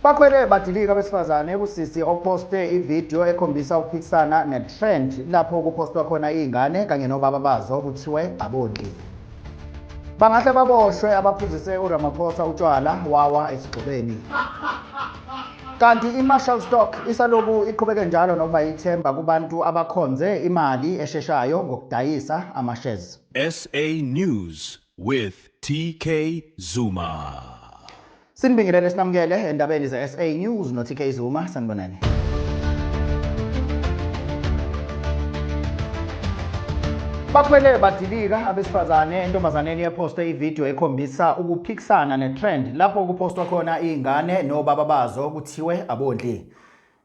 Bakhwele badilika abesifazane kusisi oposte ivideo ekhombisa ukuphikisana netrend lapho kupostwa khona izingane kanye nobaba bazo kuthiwe abondlile. Bangahle baboshwe abaphuzise uRamaphosa utshwala wawa esigxobeni. Kanti iMarshall Stock isaloku iqhubeke njalo nokuba yithemba kubantu abakhonze imali esheshayo ngokudayisa amashares. SA News, with TK Zuma. Sinibingelele sinamukele endabeni ze-SA News no-TK Zuma. Sanibonani. Bakhwele badilika abesifazane entombazaneni ephoste ividiyo ekhombisa ukuphikisana netrend lapho kupostwa khona iy'ngane nobaba bazo kuthiwe abondli.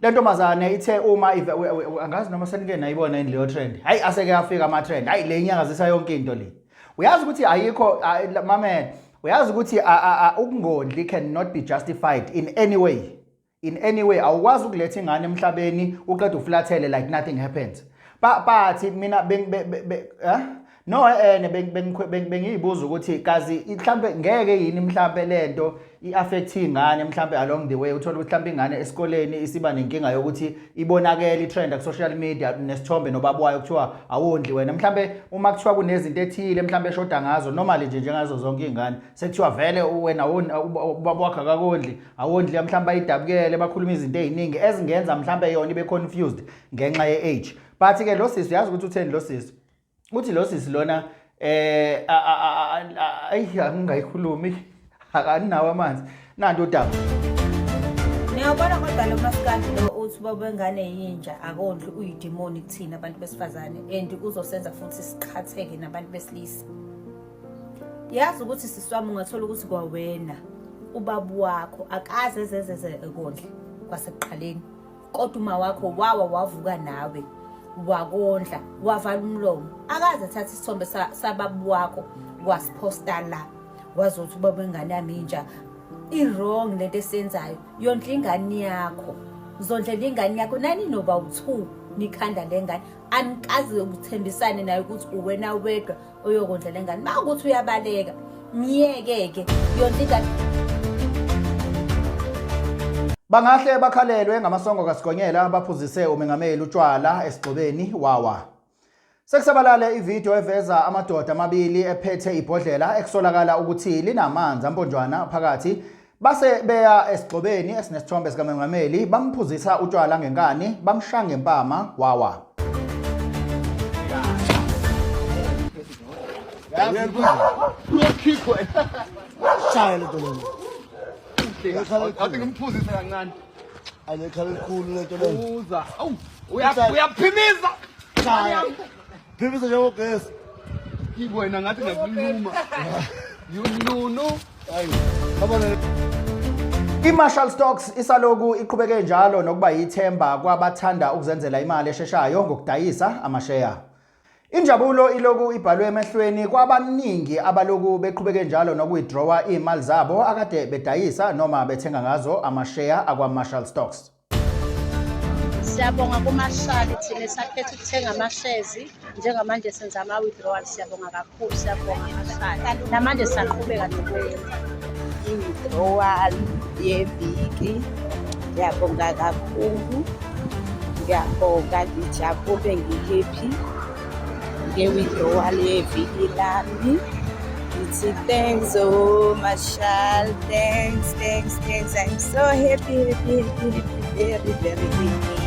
le ntombazane ithe uma ive- we- we- we- angazi noma senike nayibona yini leyo trend hayi aseke afika ama-trend hayi le inyakazisa yonke into le uyazi ukuthi ayikho a- la- mamela uyazi ukuthi a- a- a- ukungondli cannot be justified in any way in any way awukwazi ukuletha ingane emhlabeni uqeda uflathele like nothing happens Ba- bathi mina beng- be- be- be- eh? No eh, eh bengiyibuza ukuthi kazi mhlambe ngeke yini mhlambe lento iaffect ingane mhlambe along the way uthola ukuthi mhlambe ingane esikoleni isiba nenkinga yokuthi ibonakele itrend ku social media nesithombe nobaba wayo kuthiwa awondli wena mhlambe uma kuthiwa kunezinto ethile mhlambe eshoda ngazo normally nje njengazo zonke izingane sekuthiwa vele wena ubaba wakhe akakondli awondli mhlambe ayidabukele bakhuluma izinto eziningi ezingenza mhlambe yona ibe confused ngenxa ye age but ke lo sisi uyazi ukuthi utheni lo sisi uthi lo sisi lona eh ayi angingayikhulumi akaninawo amanzi nanto udaba Ngiyabona kodwa lo maskandi lo uthi baba wengane yinja akondli uyidemoni kuthina abantu besifazane and uzosenza futhi siqhatheke nabantu besilisa. Yazi ukuthi siswami ungathola ukuthi kwawena ubaba wakho akaze zezeze ekondla kwasekuqaleni. kodwa uma wakho wawa wavuka nawe wakondla wavala umlomo akaze athatha isithombe sababu wakho wasiphosta la wazothi ubaba ingane yami inja i-wrong lento esenzayo yondla ingane yakho zondlela ingane yakho nani noba u-two nikhanda le ngane anikaze ukuthembisane nayo ukuthi uwena wedwa uyokondla le ngane uma ukuthi uyabaleka myeke-ke yonke ingane bangahle bakhalelwe ngamasongo kasigonyela baphuzise umengameli utshwala esigxobeni wawa sekusabalale ividiyo eveza amadoda amabili ephethe ibhodlela ekusolakala ukuthi linamanzi amponjwana phakathi Base beya esigxobeni esinesithombe sikamengameli bamphuzisa utshwala ngenkani bamsha ngempama wawa. Shaya lento lena. Athi ngimphuzise kancane. Ayekhala elikhulu lento lena. Uza. Awu uyaphimiza. Shaya. Phimisa njengo guest. Kibo ina ngathi ngakuluma. Yununu. Hayi. Abona I-Marshall Stocks isaloku iqhubeke njalo nokuba yithemba kwabathanda ukuzenzela imali esheshayo ngokudayisa amasheya. Injabulo iloku ibhalwe emehlweni kwabaningi abaloku beqhubeke njalo nokuwithdrawa izimali zabo akade bedayisa noma bethenga ngazo amasheya akwa-Marshall Stocks. Siyabonga kumahlali thina sakhetha ukuthenga amahlezi njengamanje senza ama-withdrawal siyabonga kakhulu siyabonga amahlali namanje siyaqhubeka nokwenza i-withdrawal yeviki ngiyabonga kakhulu ngiyabonga ngijabule ngikephi nge-withdrawal yeviki lami ngithi thanks o oh, mashal thanks thanks thanks i'm so happy happy happy happy very very happy